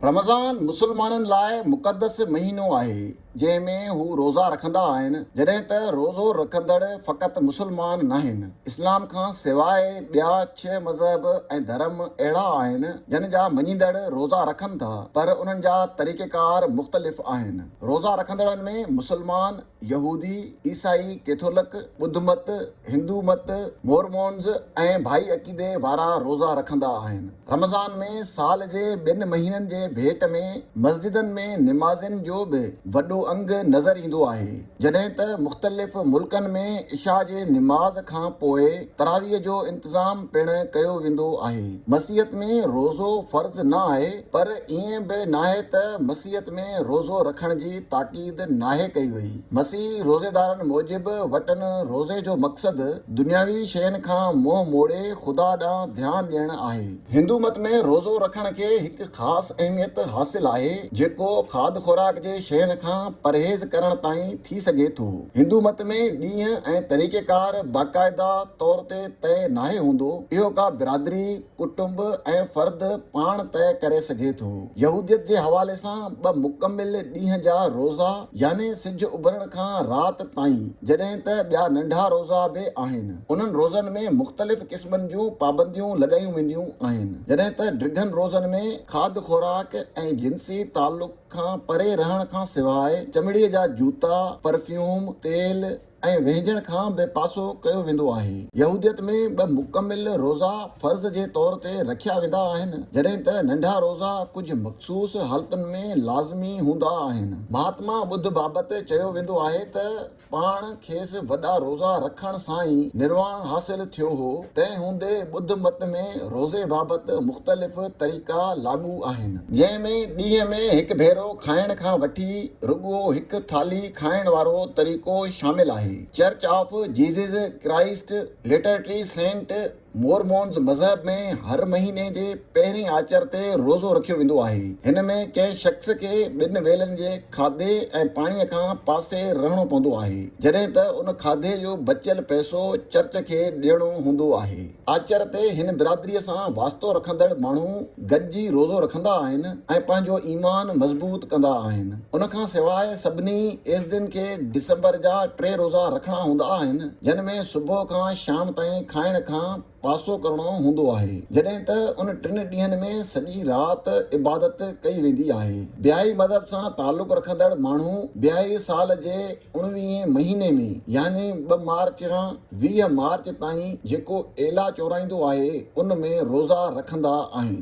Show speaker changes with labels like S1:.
S1: رمضان مسلمانن لاء مقدس مهينو آهي، جنهن ۾ هو روزا رکندا آهن، جڏهن ته روزو رکندڙ فقط مسلمان ناهن. اسلام کان سواء ٻيا ڇهه مذهب ۽ ڌرم اهڙا آهن، جن جا مڃيندڙ روزا رکن ٿا، پر انهن جا طريقيڪار مختلف آهن. روزا رکندڙن ۾ مسلمان، يهودي، عيسائي، ڪيٿولڪ، ٻڌ مت، هندو مت، مورمونز ۽ بهائي عقيدي وارا روزا رکندا آهن. رمضان ۾ سال جي ٻن مهينن جي ڀيٽ ۾ مسجدن ۾ نمازين جو به وڏو انگ نظر ايندو آهي، جڏهن ته مختلف ملڪن ۾ عشا جي نماز کان پوء تراويح جو انتظام پڻ ڪيو ويندو آهي. مسيحت ۾ روزو فرض نه آهي، پر ائين به ناهي ته مسيحت ۾ روزو رکڻ جي تاڪيد. تاڪيد ناهي ڪئي وئي. مسيحي روزيدارن موجب وٽن روزي جو مقصد دنياوي شين کان منهن موڙي خدا ڏانهن ڌيان ڏيڻ آهي. هندو مت ۾ روزو رکڻ کي هڪ خاص اهميت حاصل آهي جيڪو کاڌ خوراڪ جي شين کان پرهيز ڪرڻ تائين ٿي سگهي ٿو. هندو مت ۾ ڏينهن ۽ طريقيڪار باقاعده طور تي طئي ناهي هوندو. اهو ڪا برادري، ڪٽنب ۽ فرد پاڻ طئي ڪري سگهي ٿو. يهوديت جي حوالي سان ٻه مڪمل ڏينهن جا روزا يعني سج اڀرڻ کان رات تائين جڏهن ته ٻيا ننڍا روزا به آهن. انهن روزن ۾ مختلف قسمن جون پابنديون لڳايون وينديون آهن جڏهن ته ڊگهن روزن ۾ کاڌ خوراڪ ۽ جنسي تعلق کان پري رهڻ کان سواء چمڙي جا جوتا، پرفيوم، تيل، ۽ وهنجڻ کان بي پاسو ڪيو ويندو آهي. يهوديت ۾ ٻه مڪمل روزا فرض جي طور تي رکيا ويندا آهن، جڏهن ته ننڍا روزا ڪجهه مخصوص حالتن ۾ لازمي هوندا آهن. مهاتما ٻڌ بابت چيو ويندو آهي ته پاڻ کيس وڏا روزا رکڻ سان ئي نرواڻ حاصل ٿيو هو، تنهن هوندي ٻڌ مت ۾ روزي بابت مختلف طريقا لاڳو آهن. جنهن ۾ ڏينهن ۾ هڪ ڀيرو کائڻ کان وٺي رڳو هڪ ٿالهي کائڻ وارو طريقو شامل آهي. Church of Jesus Christ latter day saint Mormons مذهب ۾ هر مهيني جي پهرين آچر تي روزو رکيو ويندو آهي. هن ۾ ڪنهن شخص کي ٻن ويلن جي کاڌي ۽ پاڻي کان پاسي رهڻو پوندو آهي، جڏهن ته ان کاڌي جو بچيل پئسو چرچ کي ڏيڻو هوندو آهي. آچر تي هن برادريء سان واسطو رکندڙ ماڻهو گڏجي روزو رکندا آهن ۽ پنهنجو ايمان مضبوط ڪندا آهن. ان کان سواء سڀني ايزدين کي ڊسمبر جا ٽي روزا رکڻا هوندا آهن، جن ۾ صبح کان شام تائين کائڻ کان پاسو ڪرڻو هوندو آهي، جڏهن ته ان ٽن ڏينهن ۾ سڄي رات عبادت ڪئي ويندي آهي. بهائي مذهب سان تعلق رکندڙ ماڻهو بهائي سال جي انويهين مهيني ۾ يعني ٻه مارچ کان ويهه مارچ تائين جيڪو ايلا چورائيندو آهي ان ۾ روزا رکندا آهن.